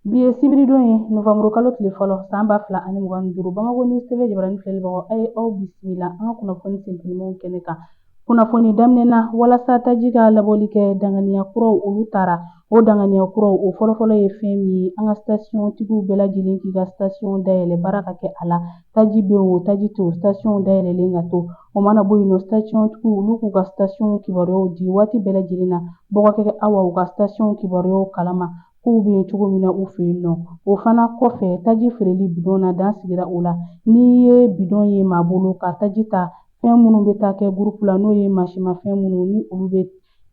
Bi ye sibiridon ye novanburu kalo tile fɔlɔ san ba fila ani mugan duuru bamakɔ news tv jabaranin filɛlibagaw aw ye aw bisimila an ka kunnafoni sentelimanw kɛnɛ kan kunnafoni daminɛ na walasa taji ka labɔli kɛ danganiya kuraw olu taara o danganiya kuraw o fɔlɔfɔlɔ ye fɛn min ye an ka sasiyɔntigiw bɛɛ lajɛlen k'i ka sasiyɔn dayɛlɛ baara ka kɛ a la taji bɛ o taji tɛ o sasiyɔn dayɛlɛlen ka to o mana bɔ yen nɔ sasiyɔntigiw olu k'u ka sasiyɔn kibaruyaw di waati bɛɛ lajɛlen na mɔgɔ kɛ awa u ka sasiyɔn kibaruyaw kalama kow bɛ cogo min na u fɛ yen nɔ o fana kɔfɛ taji feereli bidɔn na dan sigira o la n'i ye bidɔn ye maa bolo ka taji ta fɛn minnu bɛ taa kɛ gurupu la n'o ye mansimafɛn minnu ni olu bɛ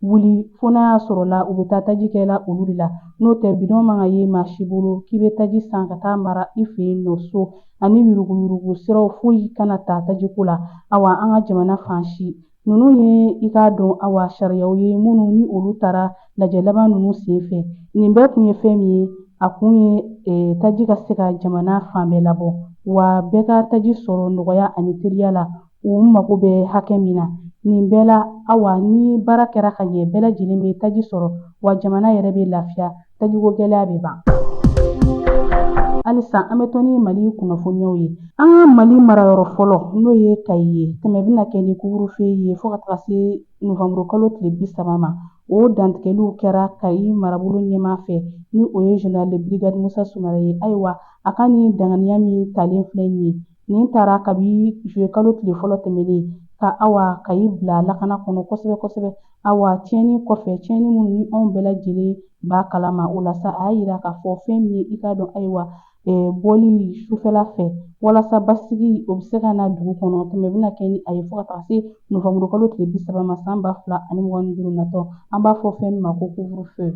wuli fo n'a y'a sɔrɔ la u bɛ taa taji kɛ la olu de la n'o tɛ bidɔn man ka ye maa si bolo k'i bɛ taji san ka taa mara i fɛ yen nɔ so ani yuruguyurugu siraw foyi kana ta tajiko la awa an ka jamana fan si Ninnu ye i k'a dɔn awa sariyaw ye minnu ni olu taara lajɛ laban ninnu sen fɛ nin bɛɛ kun ye fɛn min ye a kun ye eh, taji ka se ka jamana fan bɛɛ labɔ wa bɛɛ ka taji sɔrɔ nɔgɔya ani teliya la u mago bɛ hakɛ min na nin bɛɛ la awa ni baara kɛra ka ɲɛ bɛɛ lajɛlen bɛ taji sɔrɔ wa jamana yɛrɛ bɛ lafiya tajiko gɛlɛya bɛ ban halisa an bɛ to ni mali kunnafoniyaw ye an ka mali marayɔrɔ fɔlɔ n'o ye kayi ye tɛmɛ bɛna kɛ ni couvre-feu ye fɔɔ ka taga se novanburu kalo tile bi saba ma o dantigɛliw kɛra kayi marabolo ɲɛmaa fɛ ni o ye general de brigade musa sumare ye ayiwa a ka nin danganiya min talen filɛ nin ye nin taara kabi juillet kalo tile fɔlɔ tɛmɛnen ka awa kayi bila lakana kɔnɔ kosɛbɛ kosɛbɛ awa tiɲɛni kɔfɛ tiɲɛni minnu ni anw bɛɛ lajɛlen b'a kalama o la sa a y'a yira k'a fɔ fɛn min ye i k'a dɔn ayiwa bɔli sufɛla fɛ walasa basigi o bɛ se ka na dugu kɔnɔ tɛmɛ bɛna kɛ ni a ye fo ka taa se novanburu kalo tile bi saba ma san ba fila ani mugan ni duuru natɔ an b'a fɔ fɛn min ma ko couvre-feu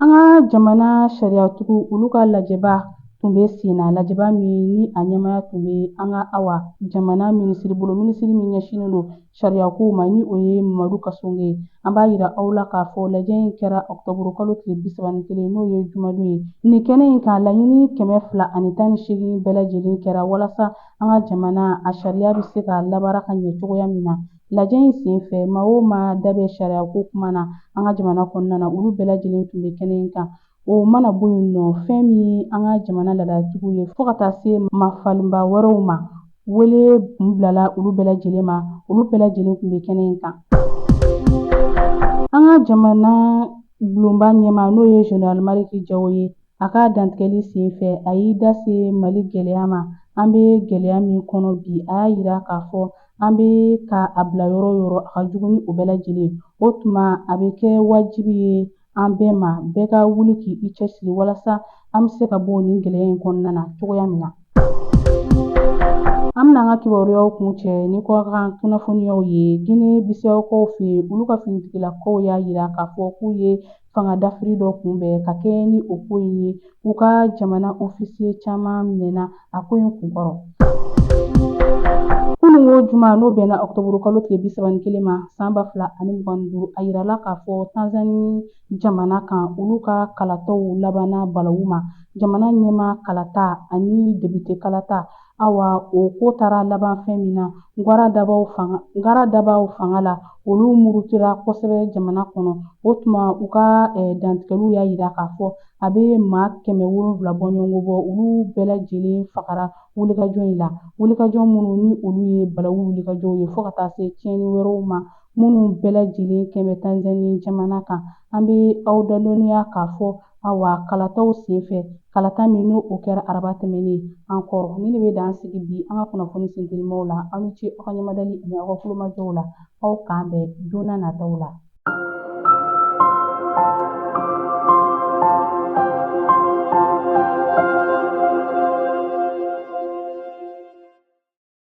an ka jamana sariyatigiw olu ka lajɛba tun bɛ senna lajɛba min ni a ɲɛmaya tun bɛ an ka awa jamana minisiri bolo minisiri min ɲɛsinnen don sariyakow ma ni o ye mamadu kasoge ye an b'a yira aw la k'a fɔ lajɛ in kɛra ɔkutɔburu kalo tile bisaba ni kelen n'o ye jumadon ye nin kɛnɛ in kan laɲini kɛmɛ fila ani tan ni seegin bɛɛ lajɛlen kɛra walasa an ka jamana a sariya bɛ se ka labaara ka ɲɛ cogoya min na lajɛ in sen fɛ maa o maa da bɛ sariyako kuma na an ka jamana kɔnɔna na olu bɛɛ lajɛlen tun bɛ kɛnɛ in kan O mana bɔ yen nɔ fɛn min an ka jamana laadatigiw ye fo ka taa se mafalenba wɛrɛw ma wele tun bilala olu bɛɛ lajɛlen ma olu bɛɛ lajɛlen tun bɛ kɛnɛ in kan an ka jamana bulonba ɲɛmaa n'o ye general maliki jawo ye a ka dantigɛli sen fɛ a y'i da se mali gɛlɛya ma an bɛ gɛlɛya min kɔnɔ bi a y'a yira k'a fɔ an bɛ ka a bila yɔrɔ o yɔrɔ a ka jugu ni o bɛɛ lajɛlen o tuma a bɛ kɛ wajibi ye an bɛɛ ma bɛɛ ka wuli k' i cɛsiri walasa an bɛ se ka bɔ nin gɛlɛya in kɔnɔna na cogoya min na an bɛna an ka kibaruyaw kuncɛ ni kɔkan kunnafoniyaw ye gine bisawokaw fɛ olu ka finitigilakaw y'a yira k'a fɔ k'u ye fanga dafiri dɔ kunbɛn ka kɛɲɛ ni o ko in ye U ka jamana ofisiye caman minɛna a ko in kunkɔrɔ. Kunun o juma n'o bɛnna ɔkutɔburu kalo tile bi saba ni kelen ma san ba fila ani mugan ni duuru a yirala k'a fɔ tanzani jamana kan olu ka kalataw labanna balawu ma jamana ɲɛmaa kalata ani depite kalata Awa o ko taara laban fɛn min na Ngara dabaw fanga la olu murutira kosɛbɛ jamana kɔnɔ o tuma u ka eh, dantigɛliw y'a yira k'a fɔ a bɛ maa kɛmɛ wolonwula bɔɲɔgɔnko bɔ olu bɛɛ lajɛlen fagara wulikajɔ in la wulikajɔ minnu ni olu ye balawu wulikajɔw ye fo ka taa se tiɲɛni wɛrɛw ma minnu bɛɛ lajɛlen kɛlen bɛ tanzanie jamana kan an bɛ aw dadɔnniya k'a fɔ Awa kalataw senfɛ kalata min n'o kɛra araba tɛmɛnen an kɔrɔ nin de bɛ dan sigi bi an ka kunnafoni sentelimaw la aw ni ce aw ka ɲɛmadali ani aw ka kulomajɔw la aw k'an bɛn don n'a nataw la